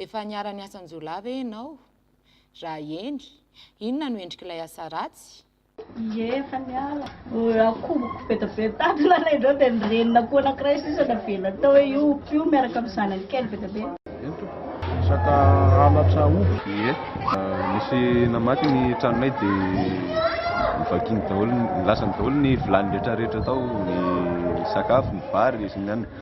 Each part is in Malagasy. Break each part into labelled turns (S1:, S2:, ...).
S1: Efa niara-niasa an-jiolahy ve ianao? Raha eny, inona no endrik'ilay asa ratsy? Ie, efa
S2: niala. Raha koboky bedabedy tato lalain dreo dia ny renin'akoho anankiray sisa navela tao hoe io omby io miaraka amin'ny zanany kely bedabedy. Eny tompoko, resaka
S3: halatra omby. Ie, nisy namaky ny tranonay dia novakiany daholo, nilasany daholo ny vilany rehetra rehetra tao, ny sakafo, ny vary sy ny anana.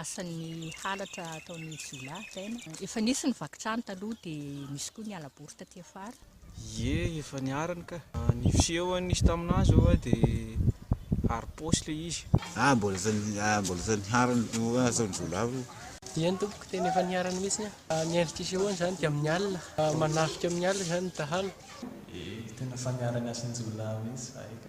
S4: Asan'ny halatra ataon'ny jiolahy izay no. Efa nisy ny vaky trano taloha dia nisy koa ny halabory taty afara. Ie efa
S5: niharany ka. Ny fisehoany nisy tamin'azy oa dia haripaosy ilay izy. Ah mbola efa
S6: mbola efa niharany no asan'ny jiolahy io. Ie ny tompoko
S7: tena efa niharany mihitsy an. Ny endrika isehoany izany dia amin'ny alina. Manafika amin'ny alina izany ny dahalo. Ie tena
S8: efa niharany asan'ny jiolahy mihitsy izay ka.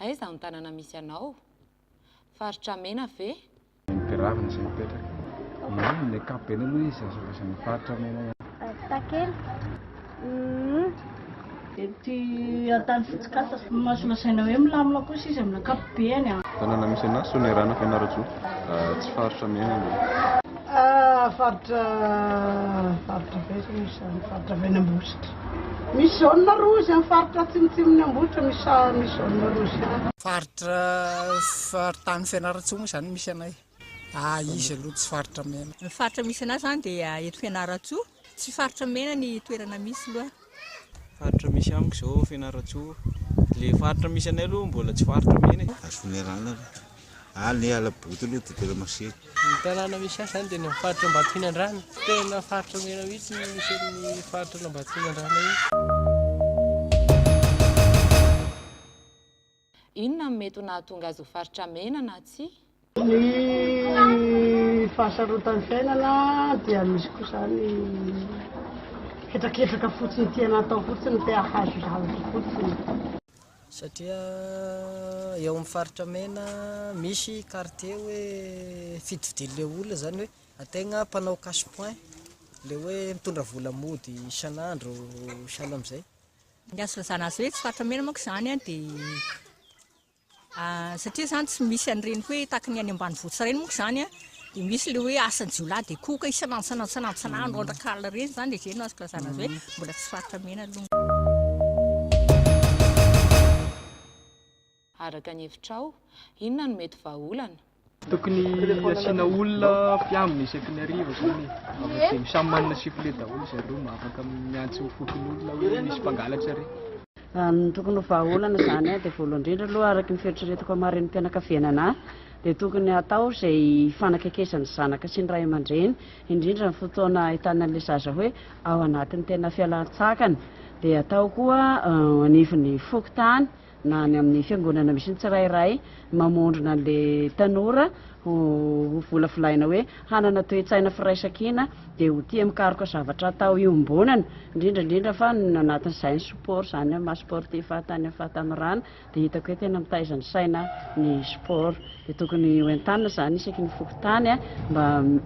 S1: Aiza ny tanana misy anao? Faritra mena ve? Ny mpiravina izay
S3: mipetraka eny amin'ny ankapobeny aloha izy azo lazaina faritra mena ihany. Azitakely
S2: umm. Ety antany fotsokasa. No azo lazaina hoe milamina kosa izy amin'ny ankapobeny. Tanana misy anà,
S3: Soanierana, Fianarantsoa. Tsy faritra mena aloha.
S9: Faritra, faritra ve izany? Faritra mena ambositra. Misy zone rouge amin'ny faritra atsimotsimon'i Ambohitra misy zone rouge. Faritra
S10: faritany Fianarantsoa moa izany no misy anay. Ary izy aloha tsy faritra mena. Ny faritra misy anay izany
S4: dia eto Fianarantsoa. Tsy faritra mena ny toerana misy aloha. Faritra
S5: misy amiko izao Fianarantsoa. Ilay faritra misy anay aloha mbola tsy faritra mena e. Afomerana aloha.
S6: Any Alaboto aloha dia tena masera. Ny tanàna misy
S7: ahy izany dia ny amin'ny faritra Ambatofinandrana. Tena faritra mena mihitsy ny misy an'ny faritra an'Ambatofinandrana io.
S1: Inona no mety ho nahatonga azy ho faritra mena na tsia? Ny
S9: fahasarotan'ny fiainana dia misy koa izany hetraketraka fotsiny tiana atao fotsiny te hahazo zavatra fotsiny. satria
S7: eo amin'ny faritra mena misy quartier hoe fito fidian'le olona zany hoe ategna mpanao cash point le hoe mitondra vola mody isan'andro sahala amzay. Ny azo ilazana
S4: azy hoe tsy faritra mena manko zany an de satria zany tsy misy an'ireny hoe tahaka ny any ambanivohitra ireny manko zany an Dia misy ilay hoe asan-jiolahy dia koa ka isan'antsan'antsan'antsan'andro andrak'alina ireny izany izay no azoko lazana azy hoe mbola tsy faritra mena aloha.
S1: Araka ny hevitrao, inona no mety vahaolana? Tokony
S7: asiana olona mpiambina isaky ny hariva zany e, avadino samy manana sifflet daholo zareo mba afaka miantso fokonolona hoe misy mpangalatra re. Ny tokony
S2: ho vahaolana izany dia voalohany indrindra aloha araka ny fieritreretako hamarenim-pianakavianana ahy dia tokony hatao izay hifanakaikezan'ny zanaka sy ny ray aman-dreny indrindra ny fotoana ahitana an'ilay zaza hoe ao anatin'ny tena fialan-tsakana dia hatao koa anivon'ny fokontany na any amin'ny fiangonana misy ny tsirairay mamondrona an'ilay tanora ho, ho volavolaina hoe hanana toe-tsaina firaisankina dia ho tia mikaroka zavatra atao iombonana, indrindra indrindra fa ny anatin'izay ny sport izany amin'ny maha sportif ahy tany amin'ny fahatanorana dia hitako hoe tena mitaiza ny saina ny sport dia tokony ho entanina izany isaky ny fokontany mba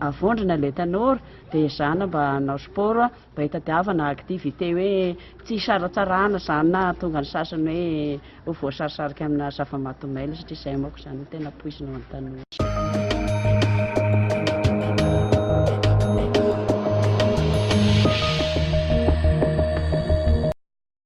S2: avondrona ilay tanora dia ezahana mba hanao sport Mba hitadiavana activité hoe tsy hisaratsarahana izany na hahatonga ny sasany hoe ho voasarisarika amina zava-maty mailo satria izay manko izany no tena poizina ho an'ny tanora.